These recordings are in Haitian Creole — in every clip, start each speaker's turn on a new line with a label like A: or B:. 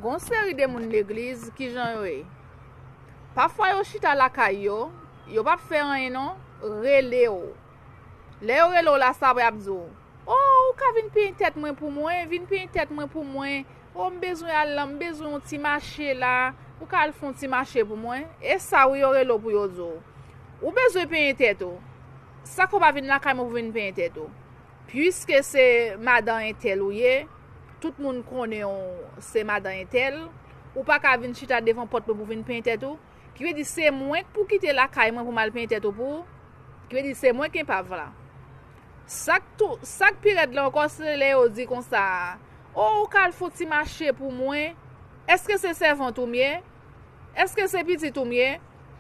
A: Gon seri de moun legliz kijan yo ye pafwa yo chita lakay yo yo pap fè anyen non relew lè yo relew la sa apre yap diw oh ou ka vin peny tèt mwen pou mwen vin peny tèt mwen pou mwen oh m bezwen al lan m bezwen yon ti mache la ou ka al fon ti mache pou mwen e sa wi yo relew pou yo diw ou bezwen peny tèt ou sa k ou pa vin lakay mwen pou vin peny tèt ou. Puiske se madan entèl ou ye, tout moun konnen w se madan entèl, ou pa ka vin chita devan pòt mwen pou vin penyen tèt ou, ki vle di se mwen k pou kite lakay mwen pou m al penyen tèt ou pou ou, ki vle di se mwen k enpav la. Sa k tou, sa k pi rèd la ankò se lè yo di konsa, O ou ka al fon ti mache pou mwen, èske se sèvant ou m ye? Èske se pitit ou m ye?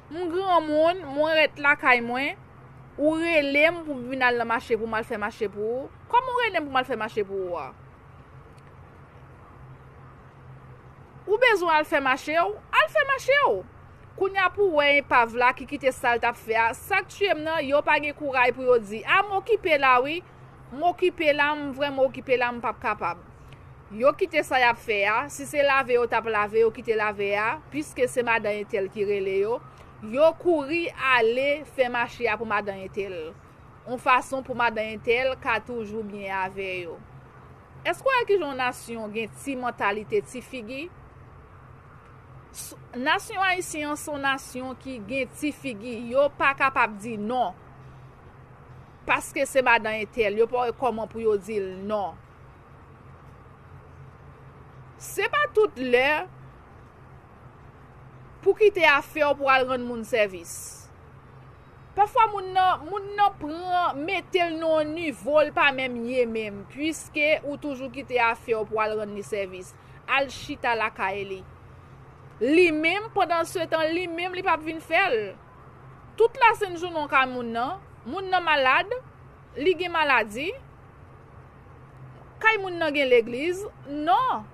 A: M granmoun, mwen ret lakay mwen, ou rele m pou m vin al nan mache pou m al fè mache pou ou? Kòman ou rele m pou m al fè mache pou ou a? Ou bezwen al fè mache ou? Al fè mache ou! Kounya pou wè enpav la ki kite sa l t ap fè a, sa k tuye m nan, yo pa gen kouray pou yo di, a m okipe la wi! M okipe la m vrèman okipe la m pap kapab Yo kite sa yap fè a si se lave yo tap lave yo kite lave a piske se madan entèl ki rele yo yo kouri ale fè mache a pou madan entèl on fason pou madan entèl ka toujou byen avè yo Èske w wè kijan on nasyon gen ti mantalite ti figi S nasyon ayisyen an son nasyon ki gen ti figi yo pa kapab di non. Paske se madan entèl yo pa wè kòman pou yo di l non. Se pa tout lè pou kite afè w pou al rann moun sèvis. Pafwa moun nan, moun nan pran, mete l nan yon nivo l pa menm ye menm puiske ou toujou kite afè w pou al rann li sèvis. Al chita lakay li. Li menm, pandansetan li menm li p ap vin fè l. Tout lasennjounen w kay moun nan, moun nan malad, li gen maladi, kay moun nan gen legliz, non!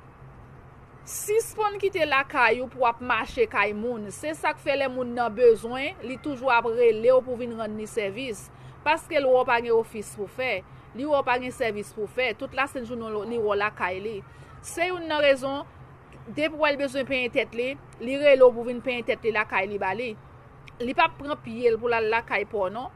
A: Sispann kite lakay ou pou w ap mache kay moun, se sa k fè lè moun nan bezwen, li toujou ap rele w pou w vin rann li sèvis, paske l wè w pa gen ofis pou w fè, li wè w pa gen sèvis pou w fè, tout lasennjounen w li wè w lakay li. Se youn nan rezon. depi wè l bezwen penyen tèt li, li rele w pou vin penyen tèt li lakay li ba li. Li pap pran pye l pou l al lakay pa w non.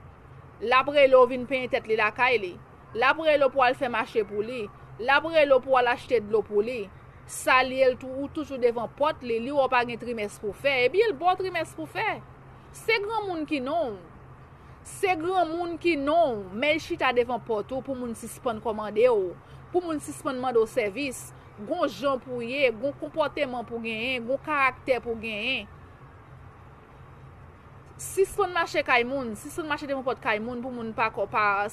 A: L ap rele w vin penyen tèt li lakay li. L ap rele w pou w al fè mache pou li. L ap rele w pou w al achte dlo pou li. Salye l tou, ou toujou devan pòt li, li wè w pa gen trimès pou w fè, epi l ba w trimès pou w fè. Se granmoun ki non w. Se granmoun ki non w, men l chita devan pòt ou pou moun sispann kòmande w, pou moun sispann mande w sèvis. gon jan pou w ye, gon konpòteman pou w genyen, gon karaktè pou w genyen. Sispann mache kay moun, sispann mache devan pòt kay moun pou moun pa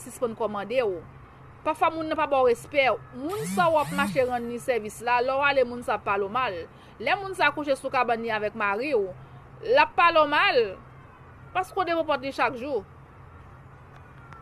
A: sispann kòmande w. Pafwa moun nan pa ba w respè. Moun sa w ap mache rann li sèvis la, lè w ale moun sa ap pale w mal. Lè moun sa kouche sou kabann li avèk mari w, l ap pale w mal. Paske w devan pòt li chak jou.